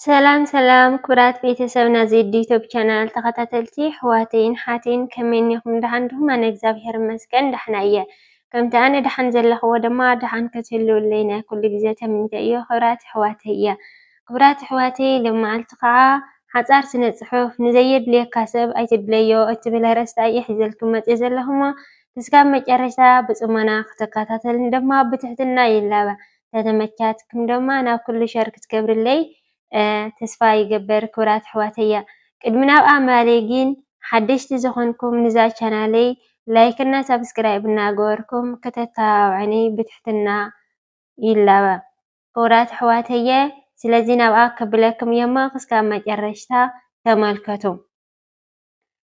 ሰላም ሰላም ክብራት ቤተሰብ ናዚ ዩቱብ ቻናል ተኸታተልቲ ኣሕዋተይን ሓተይን ከመይ እኒኹም ደሓን ድኹም? ኣነ እግዚኣብሔር ይመስገን ደሕና እየ። ከምቲ ኣነ ደሓን ዘለኽዎ ድማ ደሓን ክትህልውለይ ናይ ኩሉ ግዜ ተምኒተ እዮ ክብራት ኣሕዋተይ እየ። ክብራት ኣሕዋተይ ልመዓልቲ ከዓ ሓፃር ስነ ፅሑፍ ንዘየድልየካ ሰብ ኣይትድለዮ እትብል ኣርእስቲ እየ ሒዘልኩም መፅየ ዘለኹሞ ክስካብ መጨረሽታ ብጽሞና ክትከታተልን ደማ ብትሕትና ይላበ ተተመቻትክም ደማ ናብ ክሉ ሸር ክትገብርለይ ተስፋ ይገበር ክብራት ኣሕዋተያ ቅድሚ ናብ ኣማሌ ጊን ሓደሽቲ ዝኾንኩም ንዛ ቻናለይ ላይክና ሳብስክራይብ እናገበርኩም ከተተባብዕኒ ብትሕትና ይላበ ክብራት ኣሕዋተየ ስለዚ ናብኣ ከብለክም እየሞ ክስካብ መጨረሽታ ተመልከቱ።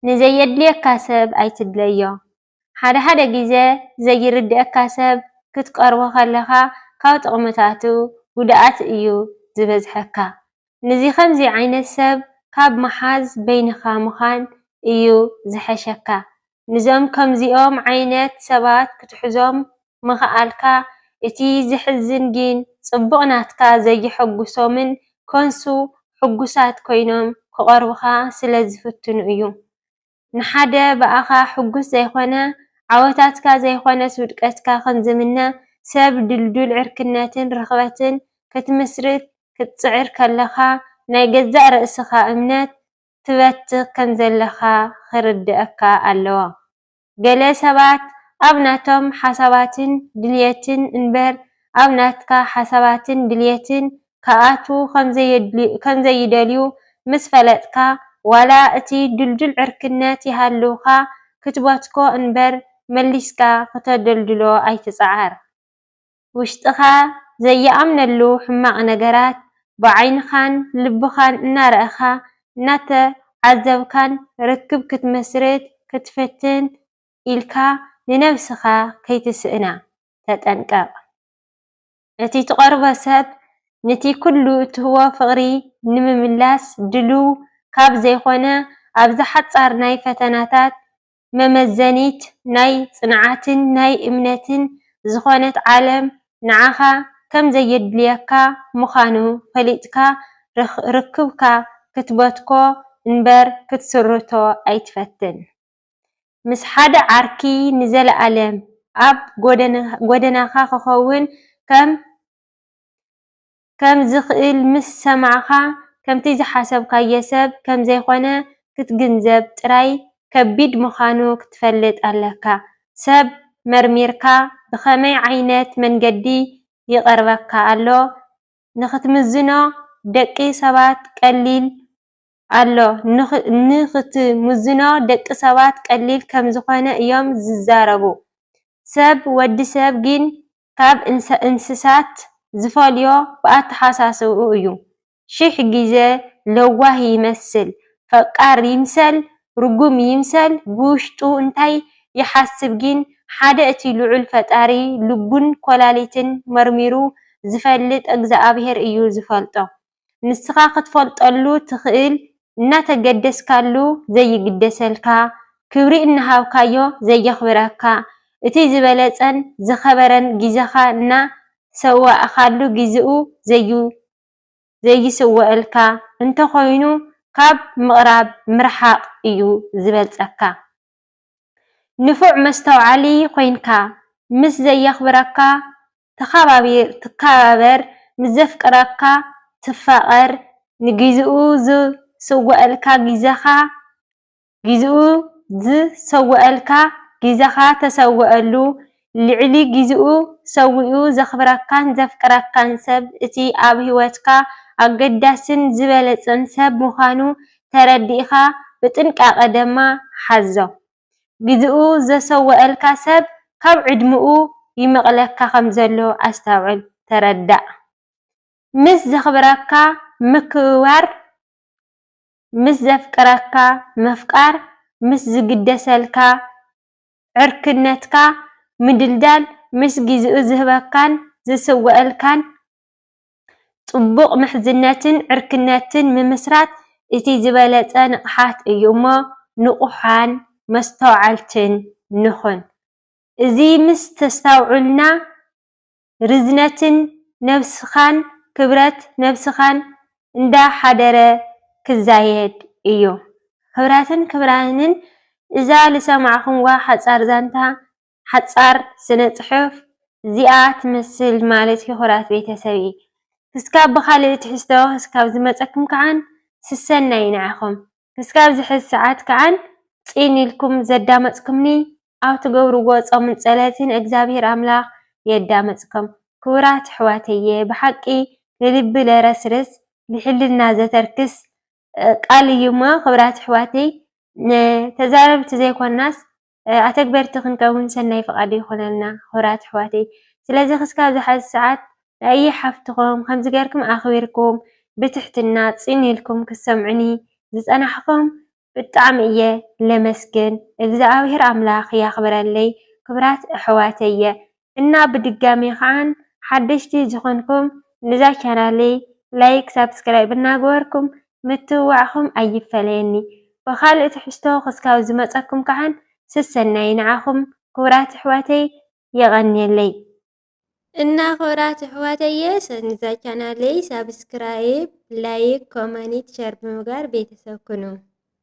ንዘየድልየካ ሰብ ኣይትድለዮ። ሓደ ሓደ ግዜ ዘይርድኣካ ሰብ ክትቀርቦ ከለኻ ካብ ጥቕምታቱ ጉድኣት እዩ ዝበዝሐካ። ንዚ ከምዚ ዓይነት ሰብ ካብ ምሓዝ በይንኻ ምዃን እዩ ዝሐሸካ። ንዞም ከምዚኦም ዓይነት ሰባት ክትሕዞም ምኽኣልካ እቲ ዘሕዝን ግን ጽቡቅ ናትካ ዘየሐጉሶምን ኮንሱ ሕጉሳት ኮይኖም ክቀርቡኻ ስለ ዝፍትኑ እዩ ንሓደ ብኣኻ ሕጉስ ዘይኮነ ዓወታትካ ዘይኮነስ ውድቀትካ ከም ዝምነ ሰብ ድልዱል ዕርክነትን ርኽበትን ክትምስርት ክትጽዕር ከለኻ ናይ ገዛእ ርእስኻ እምነት ትበትኽ ከም ዘለኻ ክርድኣካ ኣለዎ ገለ ሰባት ኣብ ናቶም ሓሳባትን ድልየትን እንበር ኣብ ናትካ ሓሳባትን ድልየትን ክኣትዉ ከምዘይደልዩ ምስ ፈለጥካ ዋላ እቲ ድልዱል ዕርክነት ይሃልውካ ክትበትኮ እንበር መሊስካ ክተደልድሎ ኣይትጽዓር። ውሽጥኻ ዘይኣምነሉ ሕማቕ ነገራት ብዓይንኻን ልብኻን እናረኣኻ እናተዓዘብካን ርክብ ክትመስርት ክትፍትን ኢልካ ንነብስኻ ከይትስእና ተጠንቀቕ። እቲ ትቐርቦ ሰብ ንቲ ኩሉ እትህቦ ፍቕሪ ንምምላስ ድሉው ካብ ዘይኮነ ኣብዛ ሓጻር ናይ ፈተናታት መመዘኒት ናይ ጽንዓትን ናይ እምነትን ዝኾነት ዓለም ንዓኻ ከም ዘየድልየካ ምኻኑ ፈሊጥካ ርክብካ ክትበትኮ እንበር ክትስርቶ ኣይትፈትን። ምስ ሓደ ዓርኪ ንዘለኣለም ኣብ ጎደናኻ ክኸውን ከም ከም ዝኽእል ምስ ሰማዕካ፣ ከምቲ ዝሓሰብካዮ ሰብ ከም ዘይኮነ ክትግንዘብ ጥራይ ከቢድ ምኻኑ ክትፈልጥ ኣለካ። ሰብ መርሚርካ ብኸመይ ዓይነት መንገዲ ይቐርበካ ኣሎ ንኽትምዝኖ ደቂ ሰባት ቀሊል ኣሎ ንኽትምዝኖ ደቂ ሰባት ቀሊል ከም ዝኾነ እዮም ዝዛረቡ። ሰብ ወዲ ሰብ ግን ካብ እንስሳት ዝፈልዮ ብኣተሓሳስባኡ እዩ። ሽሕ ግዘ ለዋህ ይመስል፣ ፈቃር ይምሰል፣ ርጉም ይምሰል ብውሽጡ እንታይ ይሓስብ ጊን ሓደ እቲ ልዑል ፈጣሪ ልቡን ኮላሊትን መርሚሩ ዝፈልጥ ኣግዝኣብሄር እዩ ዝፈልጦ። ንስኻ ክትፈልጠሉ ትኽእል እናተገደስካሉ ዘይግደሰልካ፣ ክብሪ እናሃብካዮ ዘየኽብረካ፣ እቲ ዝበለጸን ዝኸበረን ግዜኻ እና ሰዋእኻሉ ግዜኡ ዘይስወኣልካ እንተኾይኑ ካብ ምቕራብ ምርሓቕ እዩ ዝበልጸካ። ንፉዕ መስተውዓሊ ኮይንካ ምስ ዘየኽብረካ ተኻባቢር-ትካባበር ምስ ዘፍቅረካ ትፋቀር ንጊዚኡ ዝሰወኣልካ ጊዘኻ ጊዚኡ ዝሰወኣልካ ጊዘኻ ተሰወኣሉ ልዕሊ ጊዚኡ ሰዊኡ ዘኽብረካን ዘፍቅረካን ሰብ እቲ ኣብ ሂወትካ ኣገዳሲን ዝበለጸን ሰብ ምኻኑ ተረዲእኻ ብጥንቃቀ ደማ ሓዞ። ግዜኡ ዘሰወኣልካ ሰብ ካብ ዕድመኡ ይመቕለካ ከምዘሎ ኣስተውዕል ተረዳእ ምስ ዘኽብረካ ምክብባር ምስ ዘፍቅረካ ምፍቃር ምስ ዝግደሰልካ ዕርክነትካ ምድልዳል ምስ ግዜኡ ዝህበካን ዝስወኣልካን ጽቡቕ ምሕዝነትን ዕርክነትን ምምስራት እቲ ዝበለጸ ንቕሓት እዩ እሞ ንቑሓን መስተውዓልትን ንኹን። እዚ ምስ ተስታውዑልና ርዝነትን ነብስኻን ክብረት ነብስኻን እንዳ ሓደረ ክዛየድ እዩ። ክብረትን ክብራንን እዛ ልሰማዕኹምዋ ሓጻር ዛንታ ሓጻር ስነ ጽሑፍ እዚኣ ትመስል ማለት ይኩራት ቤተሰብ እዪ ክስካብ ብካልእ ትሕዝቶ ክስካብ ዝመጸኩም ከዓን ስሰናዪ ንዓኩም ክስካብ ዝሕዝ ሰዓት ከዓን ጺን ኢልኩም ዘዳመጽኩምኒ ኣብ ትገብርዎ ጾምን ጸለትን እግዛብሄር ኣምላክ የዳመጽኩም ክቡራት ኣሕዋተየ ብሓቂ ንልቢ ለረስርስ ልሕልና ዘተርክስ ቃል እዩሞ ክብራት ኣሕዋተይ ተዛረብቲ ዘይኮናስ ኣተግበርቲ ክንከውን ሰናይ ፍቃዱ ይኩነልና ኩቡራት ኣሕዋተይ ስለዚ ክስካብ ዝሓዚ ሰዓት ኣየ ሓፍትኩም ከምዚ ገርኩም ኣክቢርኩም ብትሕትና ፂን ኢልኩም ክትሰምዑኒ ዝፀናሕኩም ብጣዕሚ እየ ለመስግን እግዝኣብሄር ኣምላክ ያክብረለይ ክብራት ኣሕዋተየ እና ብድጋሜ ከዓ ሓደሽቲ ዝኮንኩም ነዛ ቻናለይ ላይክ ሳብስክራይብ እናገበርኩም ምትብባዕኩም ኣይፈለየኒ ብካልእ ትሕዝቶ ክስካብ ዝመፀኩም ከዓ ሰሰናዩ ንዓኩም ክቡራት ኣሕዋተይ የቀንየለይ። እና ክብራት ኣሕዋተየ ነዛ ቻናለይ ሳብስክራይብ ላይክ ኮመኒት ሸር ብምግባር ቤተሰብ ኩኑ።